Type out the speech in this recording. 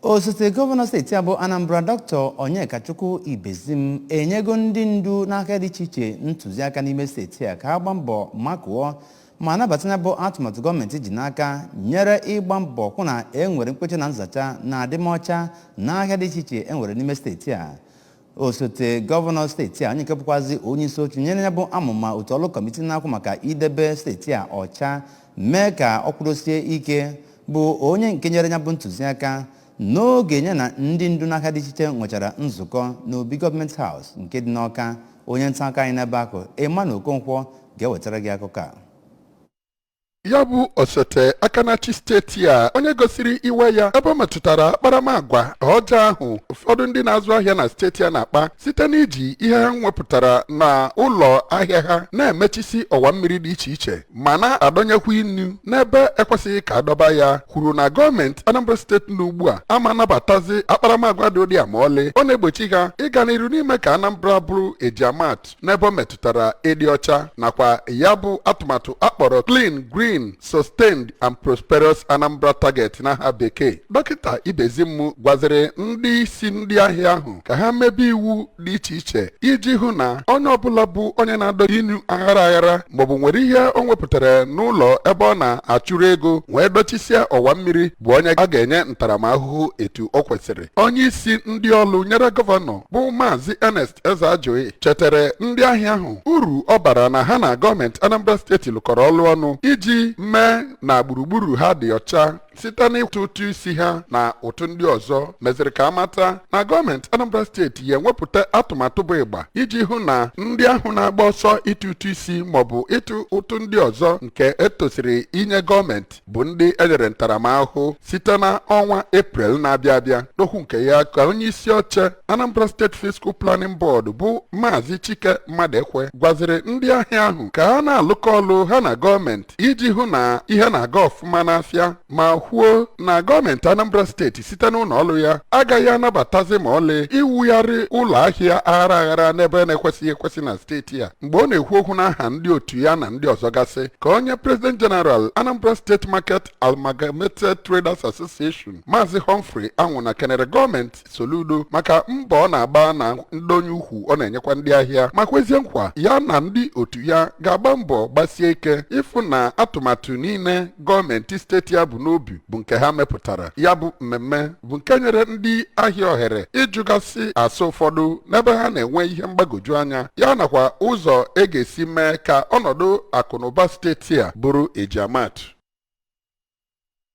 osote gọvanọ steeti a bụ anambra dọkịta onyekachukwu ibezim enyego ndị ndu n'ahịa dị iche iche ntụziaka n'ime steeti a ka ha gbaa mbọ makụọ ma nabata ya bụ atụmatụ gọọmenti ji n'aka nyere ịgba mbọ hụ na e nwere mkpecha na nzacha na adịmọcha n'ahịa dị iche iche e nwere n'ime steeti a osote gọvanọ steeti a onye nke bụkwazi onye isi oche nyere ya bụ amụma otu ọlụ kọmiti na-ahụ maka idebe steeti a ọcha mee ka ọ kwụdosie ike bụ onye nke nyere ya bụ ntụziaka n'oge ya na ndị ndu n'ahịa dị iche iche nwechara nzukọ n'obi gọọmenti house nke dị n'ọka onye nta akụkọ anyị n'ebe ahụ Emmanuel Okonkwo ga-ewetara gị akụkọ a ya bụ osote aka na-achị steeti a onye gosiri iwe ya ebe ọ metụtara akparamagwa ọjọọ ahụ ụfọdụ ndị na-azụ ahịa na steeti a na-akpa site n'iji ihe ha nwepụtara na ụlọ ahịa ha na-emechisi ọwa mmiri dị iche iche ma na-adọnyekwa inu n'ebe ekwesịghị ka adọba ya kwuru na gọọmenti Anambra steeti na ugbu a ama anabatazi akparamagwa dị ụdị a ma ọlị ọ na-egbochi ha ịga n'iru n'ime ka Anambra bụrụ ejiamatụ n'ebe ọ metụtara ịdị ọcha nakwa ya bụ atụmatụ akpọrọ clean green sustained and prosperous anambra target n'aha bekee dọkịta ibezim gwaziri ndị isi ndị ahịa ahụ ka ha mebe iwu dị iche iche iji hụ na onye ọbụla bụ onye na-adọ inu aghara aghara maọbụ nwere ihe o nwepụtara n'ụlọ ebe ọ na-achụrụ ego wee dọchisịa ọwa mmiri bụ onye a ga-enye ntaramahụhụ etu o kwesịrị onye isi ndị ọlụ nyere gọvanọ bụ maazị Ernest Ezeajughi chetere ndị ahịa ahụ uru ọ bara na ha na gọọmenti Anambra steeti lụkọrọ ọlụ ọnụ iji mee na gburugburu ha dị ọcha site n'ịtụ ụtụ isi ha na ụtụ ndị ọzọ meziri ka amata na gọọmenti Anambra steeti ya enwepụta atụmatụ bụ ịgba iji hụ na ndị ahụ na-agba ọsọ ịtụ ụtụ isi maọbụ ịtụ ụtụ ndị ọzọ nke etosiri inye gọọmenti bụ ndị enyere ntaramahụhụ site na ọnwa eprel na-abịa abịa n'okwu nke ya ka onye isi oche anambra state physical planning board bụ maazị chike maduekwe gwaziri ndị ahịa ahụ ka ha na-alụkọ ọlụ ha na gọọmenti iji hụ na ihe na-aga ọfụma n'afịa ma kwuo na gọọmenti anambra steeti site n'ụlọ ọlụ ya agaghị anabatazi ma ọlị iwugharị ụlọ ahịa aghara aghara n'ebe na-ekwesịghị ekwesị na steeti a mgbe ọ na-ekwu okwu n'aha ndị otu ya na ndị ọzọ gasị ka onye president general Anambra State Market Amalgamated Traders Association Maazị Humphrey Anwụna kenere gọọmenti Soludo maka mbọ ọ na-agba na ndọnye ukwu ọ na-enyekwa ndị ahịa ma kwezie nkwa ya na ndị otu ya ga-agba mbọ gbasie ike ịfụ na atụmatụ niile gọọmenti steeti a bu n'obi bụ nke ha mepụtara ya bụ mmemme bụ nke nyere ndị ahịa ohere ịjụgasị ase ụfọdụ n'ebe ha na-enwe ihe mgbagwoju anya ya nakwa ụzọ e ga-esi mee ka ọnọdụ akụnụba steeti a bụrụ ejiamatụ